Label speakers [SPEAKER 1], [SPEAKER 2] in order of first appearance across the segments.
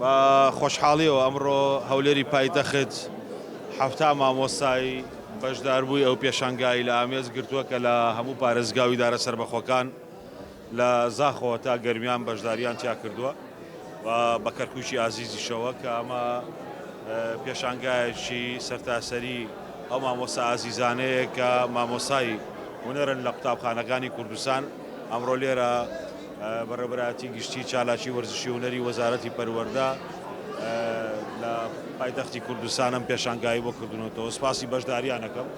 [SPEAKER 1] بە خۆشحاڵیەوە ئەمڕۆ هەولێری پایتەخت حەفتا مامۆستای بەشداربووی ئەو پێشانگایی لە ئامێز گرتووە کە لە هەموو پارێزگاوی دارە سەربەخۆکان لە زاخۆوە تا گەرمیان بەشداریان تیا کردووە. و بە کەرکوکی ئازیزیشەوە کە ئەمە پێشانگایەکی سەرتاسەری ئەو مامۆستا ئازیزانەیە کە مامۆستای هونەرن لە قوتابخانەکانی کوردستان ئەمڕۆ لێرە بەڕێوەبەرایەتی گشتی چالاکی وەرزشی هونەری وەزارەتی پەروەردە لە پایتەختی کوردستانم پێشانگایی بۆ کردنەوەتەوە سپاسی بەشداریانەکەم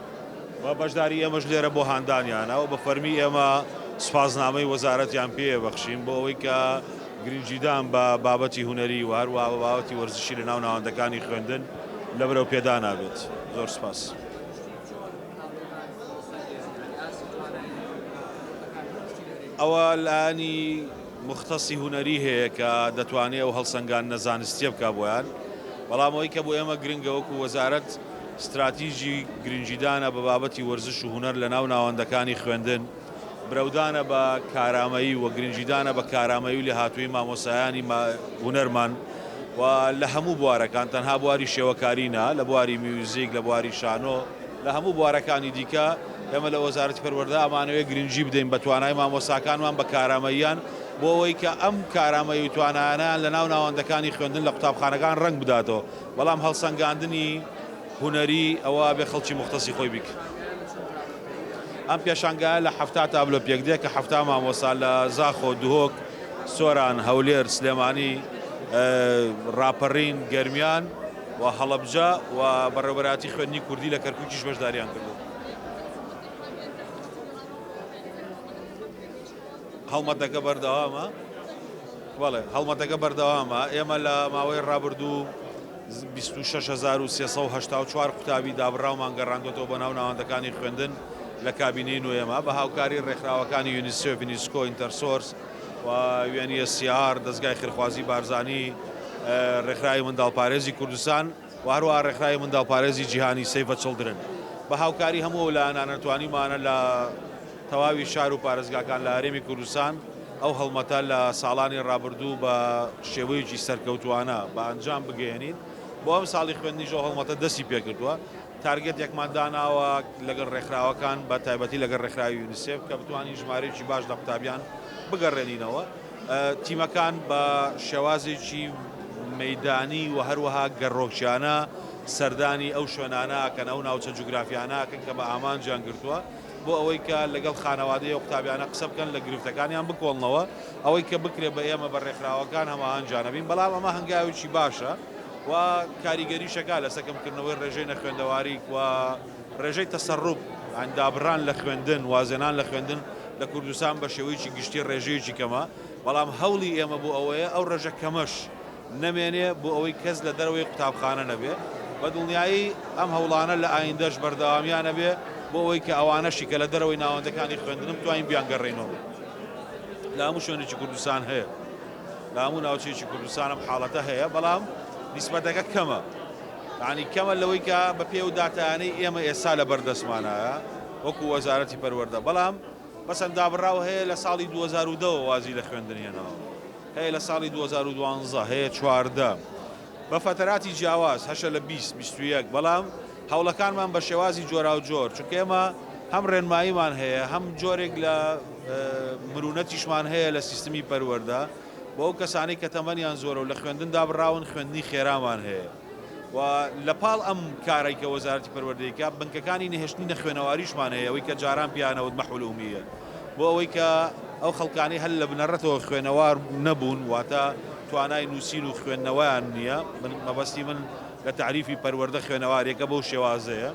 [SPEAKER 1] و بەشداری ئێمەش لێرە بۆ هاندانیانە و بە فەرمی ئێمە سپاسنامەی وەزارەتیان پێ بەخشین بۆ ئەوەی کە گرنگیدان بە بابەتی هونەری و هەروەها بە بابەتی وەرزشی لە ناو ناوەندەکانی خوێندن لە بەرەو پێدانا بێت. زۆر سپاس. ئەوە لایەنی مختصی هونەری هەیە کە دەتوانێ ئەو هەڵسەنگاندنە زانستیە بکا بۆیان بەڵام ئەوەی کە بۆ ئێمە گرنگە وەکو وەزارەت ستراتیژی گرنگیدانە بە بابەتی وەرزش و هونەر لە ناو ناوەندەکانی خوێندن. برەودانە بە کارامەیی و گرنگیدانە بە کارامەیی و لێهاتوویی مامۆستایانی هونەرمان و لە هەموو بوارەکان تەنها بواری شێوەکاری نا لە بواری میوزیک لە بواری شانۆ لە هەموو بوارەکانی دیکە ئێمە لە وەزارەتی پەروەردە ئەمانەوێ گرنگی بدەین بە توانای مامۆستاکانمان بە کارامەییان بۆ ئەوەی کە ئەم کارامەیی و توانایانەیان لە ناو ناوەندەکانی خوێندن لە قوتابخانەکان ڕەنگ بداتەوە بەڵام هەڵسەنگاندنی هونەری ئەوە ئەبێ خەڵکی موختەسی خۆی بیکرد ئەم پێشانگایە لە حەفتا تابلۆ پێکدێ کە حەفتا مامۆسا لە زاخۆ، دهۆک، سۆران، هەولێر، سلێمانی، راپەڕین، گەرمیان و هەڵەبجە و بەڕێوەبەرایەتی خوێندنی کوردی لە کەرکوکیش بەشداریان کردووە. هەڵمەتەکە بەردەوامە. بەڵێ هەڵمەتەکە بەردەوامە ئێمە لە ماوەی رابردوو. بیست و شەش هەزار و سێ سەد و هەشتا و چوار قوتابی دابڕاومان گەڕاندۆتەوە بۆ ناو ناوەندەکانی خوێندن لە کابینەی نۆیەما بە هاوکاری ڕێکخراوەکانی یونیسێف، یونیسکۆ، ئینتەرسۆرس و یوێن ی ئێس سی ئار، دەزگای خێرخوازی بارزانی، ڕێکخراوی منداڵپارێزی کوردستان و هەروەها ڕێکخراوی منداڵپارێزی جیهانی، سەیڤ زە چڵدرن. بە هاوکاری هەموو ئەو لایەنانە توانیمانە لە تەواوی شار و پارێزگاکان لە هەرێمی کوردستان ئەو هەڵمەتە لە ساڵانی ڕابردوو بە شێوەیەکی سەرکەوتووانە بە ئەنجام بگەیەنین، بۆ ئەمساڵی خوێندنیش ئەو هەڵمەتە دەستی پێکردووە، تارگێتێکمان داناوە لەگەڵ ڕێکخراوەکان بە تایبەتی لەگەڵ ڕێکخراوی یونیسێف کە بتوانین ژمارەیەکی باش لە قوتابیان بگەڕێنینەوە، تیمەکان بە شێوازێکی مەیدانی و هەروەها گەڕۆکیانە سەردانی ئەو شوێنانە ئەکەن، ئەو ناوچە جوگرافیانە ئەکەن کە بە ئامانجیان گرتووە. بۆ ئەوەی کە لەگەڵ خانەوادەی ئەو قوتابیانە قسە بکەن لە گرفتەکانیان بکۆڵنەوە ئەوەی کە بکرێت بە ئێمە بە ڕێکخراوەکان هەماهەنگانە بین بەڵام ئەمە هەنگاوێکی باشە و کاریگەریشەکە لەسە کەمکردنەوەی ڕێژەی نەخوێندەواریک و ڕێژەی تەسەروب یان دابڕان لە خوێندن وازێنان لە خوێندن لە کوردستان بە شێوەیەکی گشتی ڕێژەیەکی کەمە بەڵام هەوڵی ئێمە بۆ ئەوەیە ئەو ڕێژە کەمەش نەمێنێ بۆ ئەوەی کەس لە دەرەوەی قوتابخانە نەبێ، بە دڵنیایی ئەم هەوڵانە لە ئایندەش بەردەوامیان ئەبێ بۆ ئەوەی کە ئەوانەشی کە لە دەرەوەی ناوەندەکانی خوێندنە بتوانین بیانگەڕێینەوە لە هەموو شوێنێکی کوردستان هەیە لە هەموو ناوچەیەکی کوردستان ئەم حاڵەتە هەیە بەڵام نیسبەتەکە کەمە یعنی کەمە لەوەی کە بە پێ و داتایانەی ئێمە ئێستا لە بەردەستمانایە وەکو وەزارەتی پەروەردە بەڵام بەسەن دابڕاو هەیە لە ساڵی 2002 وازی لە خوێندن هێناوە. هەیە لە ساڵی دوو هەزار و دوازدە هەیە چواردە بە فەتەراتی جیاواز هەشە لە بیست بیست و یەک بەڵام هەوڵەکانمان بە شێوازی جۆراوجۆر چونکە ئێمە هەم ڕێنماییمان هەیە هەم جۆرێک لە مرونەتیشمان هەیە لە سیستمی پەروەردە بۆ ئەو کەسانەی کە تەمەنیان زۆرە و لە خوێندن دابڕاون خوێندنی خێرامان هەیە. و لە پاڵ ئەم کارەی کە وەزارەتی پەروەردەی کە بنکەکانی نەهێشتنی نەخوێنەواریشمان هەیە ئەوەی کە جاران پیانەوت مەحول ئومیە بۆ ئەوەی کە ئەو خەڵکانی هەل لە بنەڕەتەوە خوێنەوار نەبوون واتە توانای نووسین و خوێندنەوەیان نییە من مەبەستی من لە تعریفی پەروەردە خوێنەوارێکە بەو شێوازەیە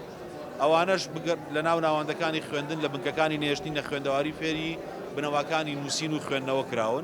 [SPEAKER 1] ئەوانەش لە ناو ناوەندەکانی خوێندن لە بنکەکانی نێشتنی نەخوێندەواری فێری بنەماکانی نووسین و خوێندنەوە کراون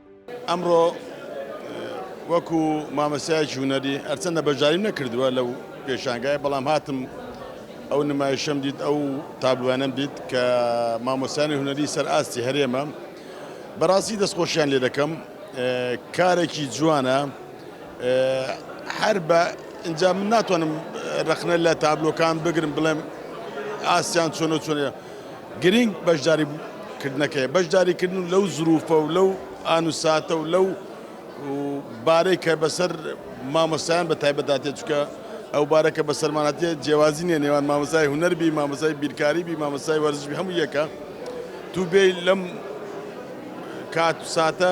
[SPEAKER 2] ئەمڕۆ وەکو مامەستایەکی هونەری هەرچەندە بەشداریم نەکردووە لەو پێشانگایە بەڵام هاتم ئەو نمایشەم دیت ئەو تابلوانەم دیت کە مامۆستایانی هونەری سەر ئاستی هەرێمە بەڕاستی دەستخۆشیان لێ دەکەم کارێکی جوانە هەر بە ئینجا من ناتوانم ڕەخنە لە تابلۆکان بگرم بڵێم ئاسیان چۆنە چۆنە گرنگ بەشداری کردنەکەی بەشداریکردن و لەو زروفە و لەو ئانوساتە و لەو بارەی کە بەسەر مامۆستایان بە تایبەتاتێ چکە ئەو بارەکە بە سەرمانەتێ جیێوازی نیە نێوان مامۆسای هوەربی مامۆسای بیرکاری بی مامۆسای وەرزش هەموو یەکە تو بێ لەم کات ساتە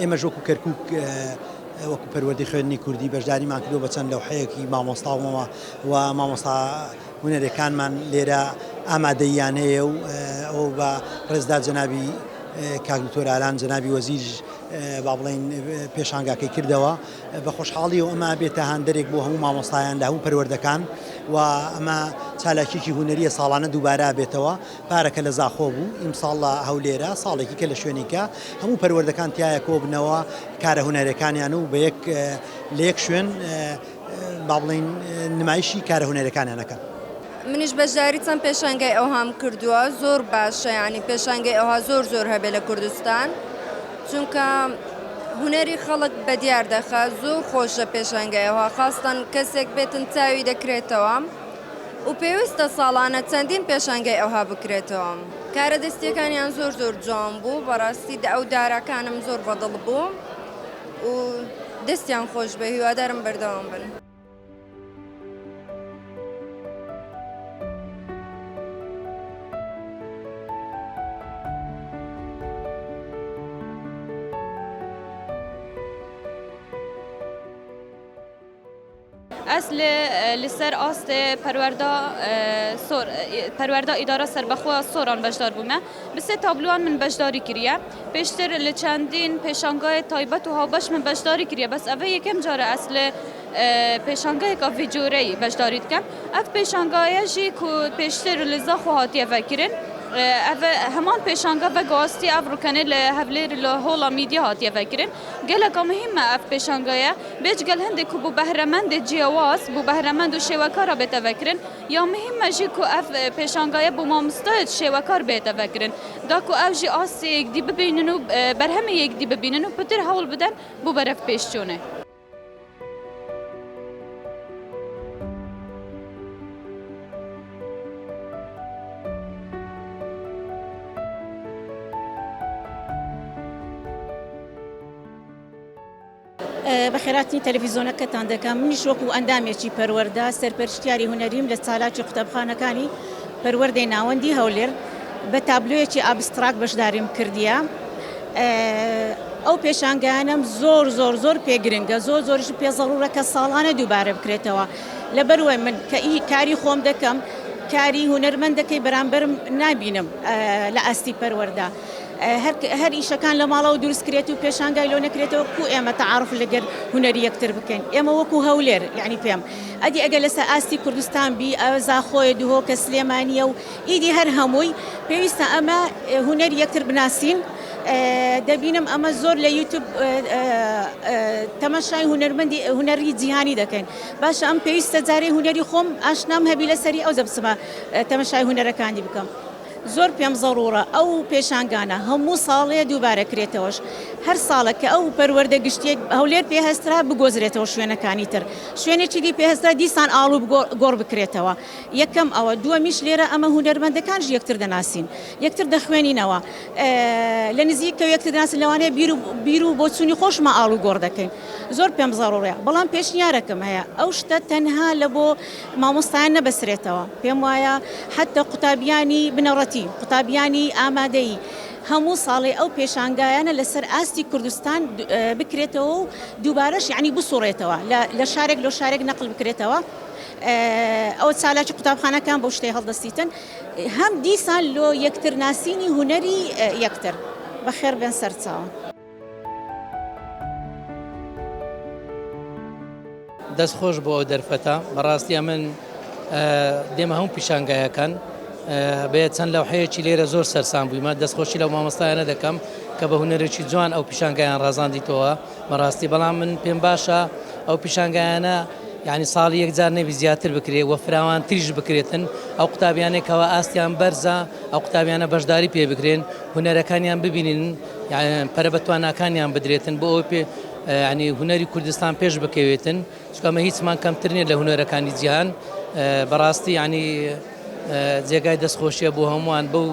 [SPEAKER 3] ئێمەش وەکو کەرکوک وەکو پەروەردەی خوێندنی کوردی بەشداریمان کردو بە چەند لەوحەیەکی مامۆستاومەوە و مامۆستا هونەرەکانمان لێرە ئامادەیانەیە و ئەو بە ڕێزدا جەنابی کاک دکتۆر ئالان جەنابی وەزیر با بڵین پێشانگاکەی کردەوە بە خۆشحاڵی و ئەمە بێتە هاندەرێک بۆ هەموو مامۆستایان لە هەموو پەروەردەکان و ئەمە چالاکیکی هوەریە ساڵانە دووبارە بێتەوە پارەکە لە زاخۆ بوو، ئیمساڵ لە هەولێرە، ساڵێکی کە لە شوێنیکە هەموو پەروەردەکان تیایا کۆبنەوە، کارە هونەرەکانیان و بە یەک لە یەک شوێن با بڵێین نمایشی کارە هونەرەکانیان ئەکەن. منیش
[SPEAKER 4] بەشداری چەند پێشانگای ئەوهام کردووە زۆر باشە یانی پێشانگەی ئەوها زۆر زۆر هەبێ لە کوردستان چونکە هونەری خەڵک بە دیار دەخە زۆر خۆشە پێشانگای ئەوها خاستان کەسێک بێتن چاوی دەکرێتەوە. و پێویستە ساڵانە چەندین پێشانگای ئەوها بکرێتەوە کارە دەستیەکانیان زۆر زۆر جوان بوو بەڕاستی دە ئەو داراکانم زۆر بەدڵ بوو و دەستیان خۆش بێ هیوادارم بەردەوام بن.
[SPEAKER 5] ئەس لە لەسەر ئاستێ پەروەردا سۆر پەروەردا ئیدارە سەربەخوا سۆران بەشدار بوومە بسێ تابلوان من بەشداری کریە پێشتر لە چەندین پێشانگای تایبەت و هاوبەش من بەشداری کریە بەس ئەە یەکەم جارە ئەس لە پێشانگای کافی جۆرەی بەشداری دکەم ئەف پێشانگایەژی کو پێشتر لە زاخۆ هاتیە ڤکرن هەمان پێشانگە بە گواستی ئەف ڕکەنێ لە هەولێر لە هۆڵە میدیا هاتیە ڤکرن گەلەکە مهمە ئەف پێشانگایە بێجگەل هەندێ کو بو بەهرەمەندێ جیواز بو بەهرەمەند و شێوەکارا بێتە ڤەکرن یا مهیممە ژی کو ئەڤ پێشانگایە بو ماموستایێ شێوەکار بێێتە ڤەکرن دا کو ئەو ژی ئاستێ یێک دی ببینن و بەرهەمێ یێک دی ببینن و پتر هەوڵ بدەن بو بەرەڤ پێش چونێ.
[SPEAKER 6] بەخێراتنی تەلەفیزۆنەکەتان دەکەم منیش وەکو ئەندامێکی پەروەەردە سەرپەرشتیاری هونەریم لە چالاکی قوتابخانەکانی پەروەەردەی ناوەندی هەولێر بە تابلوێکی ئابستراک بەشداریم کردیە ئەو پێشانگانم زۆر زۆر زۆر پێگرنگە زۆر زۆرش پێ زەڕورە کە ساڵانە دووبارە بکرێتەوە لە بەروای من کە ئی کاری خۆم دەکەم کاری هونەرمەندەکەی بەرامبەرم نابینم لە ئاستی پەروەەردە هەر ئیشەکان لە ماڵەوە دروست کرێت و پێشانگای لۆ نەکرێتەوە کو ئێمە تەعاروف لەگەر هونەری یەکتر بکەین ئێمە وەکو هەولێر یانی پێم ئەدی ئەگەر لەسە ئاستی کوردستان بی ئەوە زاخۆیە دهۆکە سلێمانیە و ئیدی هەر هەمووی پێویستە ئەمە هونەری یەکتر بناسین دەبینم ئەمە زۆر لە یوتوب تەمەشای هونەرمەندی هونەری جیهانی دەکەین باشە ئەم پێویستە جارەی هونەری خۆم ئاشنام هەبی لەسەری ئەو دەبسمە تەمەشای هونەرەکانی بکەم زۆر پێم زەڕوڕە ئەو پێشانگانە هەموو ساڵێ دووبارە کرێتەوەش هەر ساڵە کە ئەو پەروەردە گشتیەک هەولێر پێ هەسترا بگۆزرێتەوە شوێنەکانی تر شوێنێکی دی پێ هەسترا دیسان ئاڵ و گۆڕ بکرێتەوە یەکەم ئەوە دووەمیش لێرە ئەمە هونەرمەندەکانش یەکتر دەناسین یەکتر دەخوێنینەوە لە نزیک کە یەکتر دەناسین لەوانەیە بیر و بیر و بۆچوونی خۆشمە ئاڵ و گۆڕ دەکەین زۆر پێم زەڕوڕە بەڵام پێشنیارەکەم هەیە ئەو شتە تەنها لە بۆ مامۆستایان نەبەسرێتەوە پێم وایە حەتە قوتابیانی بنەڕەتی قوتابیانی ئامادەی هەموو ساڵێ ئەو پێشانگایانە لەسەر ئاستی کوردستان بکرێتەوە و دووبارەش یعنی بسوڕێتەوە لە شارێک لۆ شارێک نەقل بکرێتەوە ئەو چالاکی قوتابخانەکان بۆ شتەی هەڵدەستیتن هەم دیسان لۆ یەکتر ناسینی هوەری یەکتر بەخێر بێن سەرچاو.
[SPEAKER 7] دەست خۆش بۆ ئەو دەرفەتە بەڕاستیە من دێمە هەموو پیشانگایەکان بێت چەند لەو حەیەکی لێرە زۆر سەرسان بوویمە دەستخۆشی لەو مامۆستایانە دەکەم کە بە هوەرێکی جوان ئەو پیشانگایان ڕازاندیتەوە بەڕاستی بەڵام من پێم باشە ئەو پیشانگایانە یعنی ساڵی یەکجار نەبی زیاتر بکرێت وە فراوان تریش بکرێتن ئەو قوتابیانێکەوە ئاستیان بەرزە ئەو قوتابیانە بەشداری پێ بکرێن هوەرەکانیان ببینین یان پەرە بە تواناکانیان بدرێتن بۆ ئەوەی یانی هونەری کوردستان پێش بکەوێتن چکەمە هیچمان کەمتر نیە لە هونەرەکانی جیهان بەڕاستی ینی جێگای دەستخۆشیە بۆ هەمووان بەو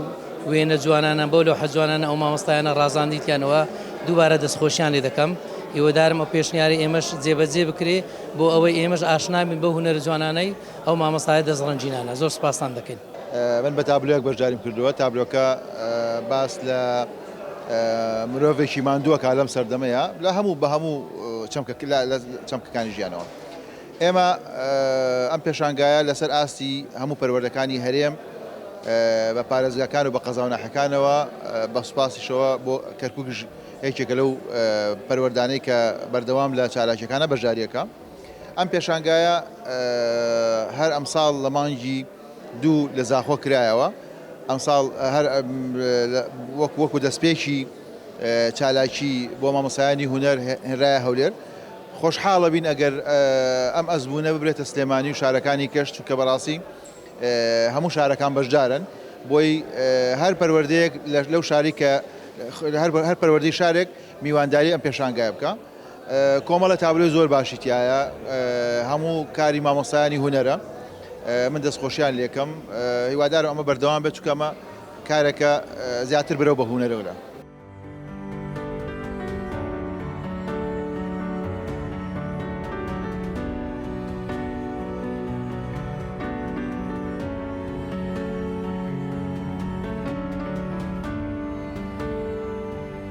[SPEAKER 7] وێنە جوانانە بۆ لە حەجوانانە ئەو مامۆستایانە ڕازاندیتیانەوە دووبارە دەستخۆشیان لێ دەکەم هیوەدارم ئەو پێشنیاری ئێمەش جێبەجێ بکرێ بۆ ئەوەی ئێمەش ئاشنابین بە هونەر جوانانەی ئەو مامۆستایە دەستڕەنجینانە زۆر سپاسان دەکەین. من بە تابلۆیەک
[SPEAKER 8] بەشداریم کردووە تابلۆکە باس لە مرۆڤێکی ماندووە کا لەم سەردەمەیە لە هەموو بە هەموو چەمکەکانی ژیانەوە ئێمە ئەم پێشانگایە لەسەر ئاستی هەموو پەروەردەکانی هەرێم بە پارێزگاکان و بە قەزاوناحەکانەوە بە سوپاسیشەوە بۆ کەرکک یەکێکە لەو پەروەردانەی کە بەردەوام لە چالاکیەکانە بەشداریەکە ئەم پێشانگایە هەر ئەمساڵ لە مانگی دوو لە زاخۆ کرایەوە، ئەمساڵ هەر وەک وەکو دەستپێکی چالاکی بۆ مامۆستایانی هونەر هێنرایە هەولێر، خۆشحاڵەبین ئەگەر ئەم ئەزموونە ببرێتە سلێمانی و شارەکانی کەش چونکە بەڕاستی هەموو شارەکان بەشدارن بۆی هەر پەروەردەیەک لەو شاری کە هەر پەروەردەی شارێک میوانداری ئەم پێشانگایە بکە. کۆمەڵە تابلۆی زۆر باشی تیایە هەموو کاری مامۆستایانی هونەرە من دەستخۆشیان لێکەم هیوادارم ئەمە بەردەوام بێت چکە ئەمە کارێکە زیاتر برەو بە هونەرەوە